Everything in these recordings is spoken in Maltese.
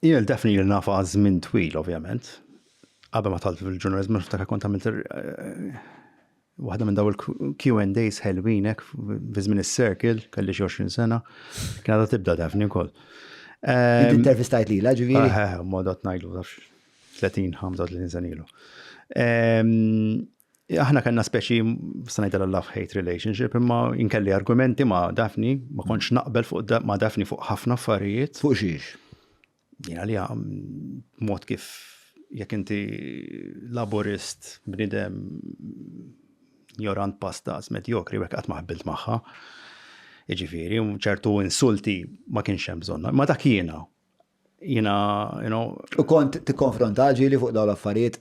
Jien Daphne li nafha għal żmien twil ovvjament. Qabel ma talt fil-ġurnaliżmu niftakar kont għamilt eh, waħda minn daw il-Q&As ħelwin hekk fi żmien is-circle, kelli xi 20 sena. Kien għadha tibda Daphne wkoll. Ehm, Intervistajt lilha ġifieri. Eh, eh, eh, mod qed ngħidu 30-35 sena ilu. Ehm, Aħna kellna speċi, sanajt l-love hate relationship, imma inkelli argumenti ma' Dafni, ma konċ naqbel fuq ma' Dafni fuq ħafna affarijiet. Fuq xiex? Jina li għam, mod kif jek inti laborist bnidem jorant pastas medjokri, jek għat maħbilt maħħa. Iġifiri, ċertu insulti ma kienx hemm bżonna. Ma dak jiena, jina, you know. U kont tikkonfronta ġili fuq dawn l-affarijiet?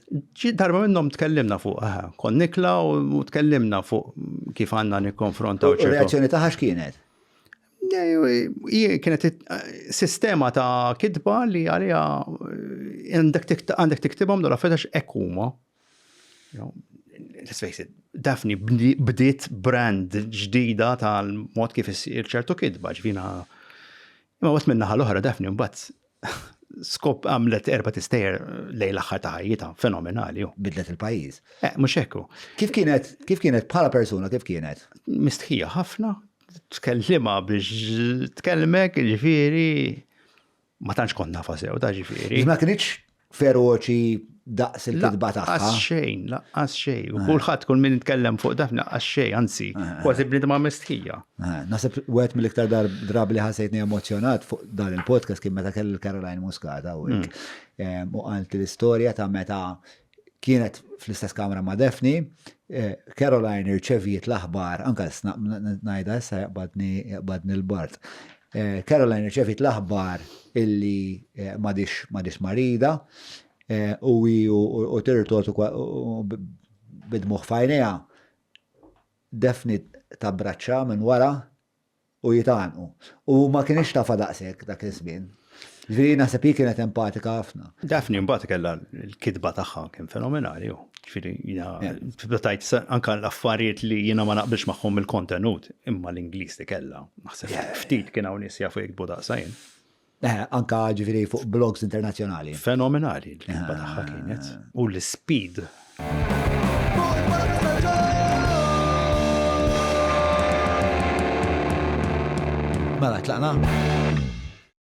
Darba minnhom tkellimna fuq, aha, kont nikla u tkellimna fuq kif għandna nikkonfronta. U reazzjoni taħħa x'kienet? Kienet sistema ta' kitba li għalija għandek tiktibhom dal affetax ekuma. Let's face it, Daphne bdiet brand ġdida tal-mod kif issir ċertu kitba ġvina Imma mbagħad min-naħa l-oħra Daphne mbagħad skop għamlet erba' tistejjer lejn l-aħħar ta' ħajjitha, fenomenali. Bidlet il-pajjiż. Eh, mhux hekk. Kif kienet, kif kienet bħala persuna kif kienet? Mistħija ħafna, tkellima biex tkellmek, ġifieri ma tantx kont nafa sew ta' ġifieri. Ma kienx feroċi daqs il-kitba tagħha. Laqqas xejn, laqqas xejn. U eh. kulħadd kull min nitkellem fuq daf laqqas xejn, anzi, eh, eh. kważi bnidma mistħija. Nasib wieħed mill-iktar drabi li ħasejtni emozjonat fuq dan il-podcast kien meta kelli Caroline Muscata u mm. u għalt l-istorja ta' meta kienet fl-istess kamra ma' Defni, Caroline irċeviet l-aħbar, anka najda issa jaqbadni l-bart, Caroline rċevit l-aħbar illi madix madix marida u u tirtot bidmuħ fajnija defni ta' braċċa minn wara u jitanqu. U ma kienx tafa daqshekk dak iż-żmien. Ġifieri naħseb hi kienet empatika ħafna. Dafni mbagħad kellha l-kitba tagħha kien fenomenali hu. Ġifieri jiena tajt anke l-affarijiet li jiena ma naqbilx magħhom il-kontenut, imma l-Ingliż li kellha Naħseb ftit kien hawn nies jafu jiktbu daqsa jien. Eh, anka ġifieri fuq blogs internazzjonali. Fenomenali l-kitba ah. tagħha kienet u l-speed. Mela tlaqna.